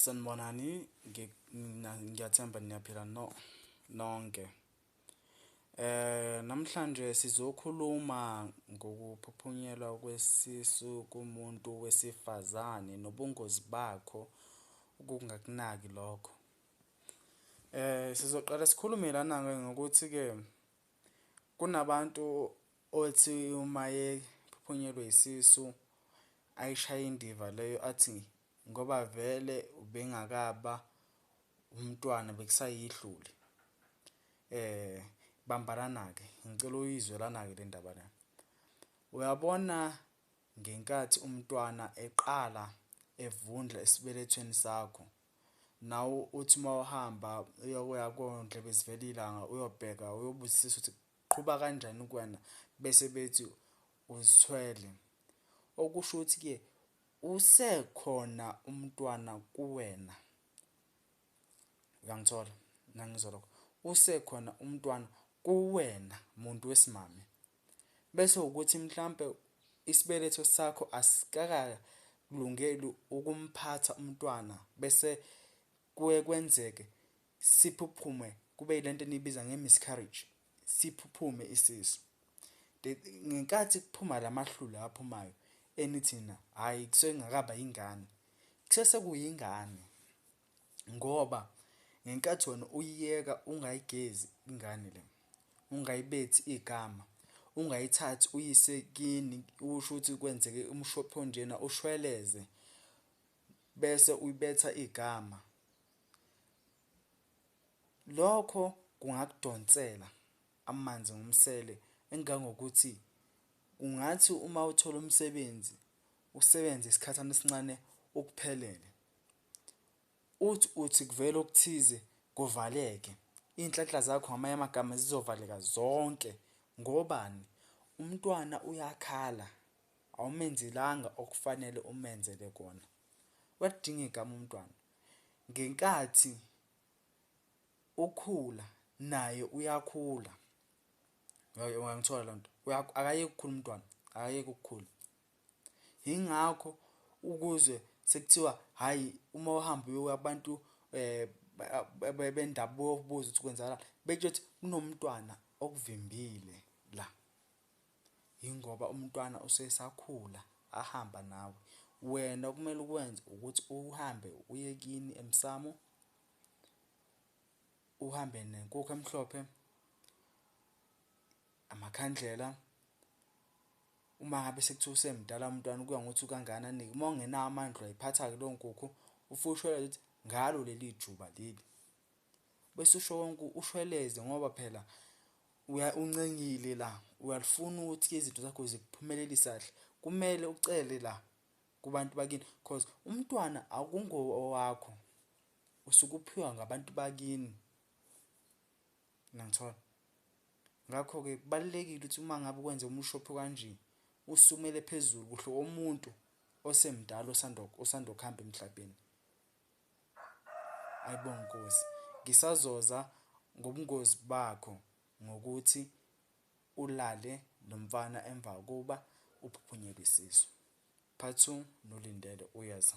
Sanibonani ngiyathemba niyaphila no nonke. Namhlanje sizokhuluma ngokuphuphunyelwa kwesisu kumuntu wesifazane nobungozi bakho ukungakunaki lokho. Sizoqala sikhulume lana-ke ngokuthi-ke. Kunabantu othi uma ephuphunyelwe isisu ayishaye indiva leyo athi ngoba vele ubengakaba umntwana bekusayihlule. Eh bambanana-ke ngicela uyizwe lana-ke le ndaba lena. Uyabona ngenkathi umntwana eqala evundla esibelethweni sakho. nawe uthi uma uhamba uyokuya kondlebe zivela ilanga uyobheka uyobuzisisa ukuthi qhuba kanjani kuwena bese bethi uzithwele okusho ukuthi ke usekhona umntwana kuwena uyangithola nangizwa lokho usekhona umntwana kuwena muntu wesimame bese ukuthi mhlampe isibeletho sakho asikakalungeli ukumphatha umntwana bese kuye kwenzeke siphuphume kube ilento enibiza nge-miscarriage siphuphume isisu ngenkathi kuphuma lamahlule aphumayo enithina hayi kusengakaba ingane kusese kuyingane ngoba ngenkathi wena uyiyeka ungayigezi ingane le, ungayibethi igama, ungayithathi uyise kini usho ukuthi kwenzeke umshophi onjena ushweleze bese uyibetha igama. Lokho kungakudonsela amanzi ngomsele engangokuthi ungathi uma uthola umsebenzi usebenze isikhathana esincane ukuphelele. Uthi uthi kuvele okuthize kuvaleke iy'nhlanhla zakho ngamanye amagama zizovaleka zonke ngobani? Umntwana uyakhala awumenzelanga okufanele umenzele kona. Uyaludinga igama umntwana ngenkathi ukhula naye uyakhula uyangithola lonto? Akayeke ukukhula umntwana akayeke ukukhula. yingakho ukuzwe sekuthiwa hhayi uma uhamba uyoya kubantu um bendabuko ubuze ukuthi kwenzakala betsho ukuthi kunomntwana okuvimbile la yingoba umntwana usesakhula ahamba nawe wena okumele ukwenze ukuthi uhambe uye kini emsamo uhambe nenkukhu emhlophe Amakhandlela, uma ngabe sekuthiwa usemdala umntwana kuya ngokuthi ukangani anike uma ungenawo amandla uyayiphatha-ke leyo nkukhu ufike ushweleze ukuthi ngalo leli juba leli bese usho konke ushweleze ngoba phela uncengile la uyalifuna ukuthi izinto zakho zikuphumelelisa kahle kumele ucele la kubantu bakini cause umntwana akungowakho usuke uphiwa ngabantu bakini Niyangithola? Ngakho-ke kubalulekile ukuthi uma ngabe ukwenze umushophi kanje usukumele phezulu kuhle omuntu osemdala osanda osanda kuhamba emhlabeni ayibonga inkosi ngisazoza ngobungozi bakho ngokuthi ulale nomfana emva kokuba uphuphunyelwe isisu part 2 nolindele uyaza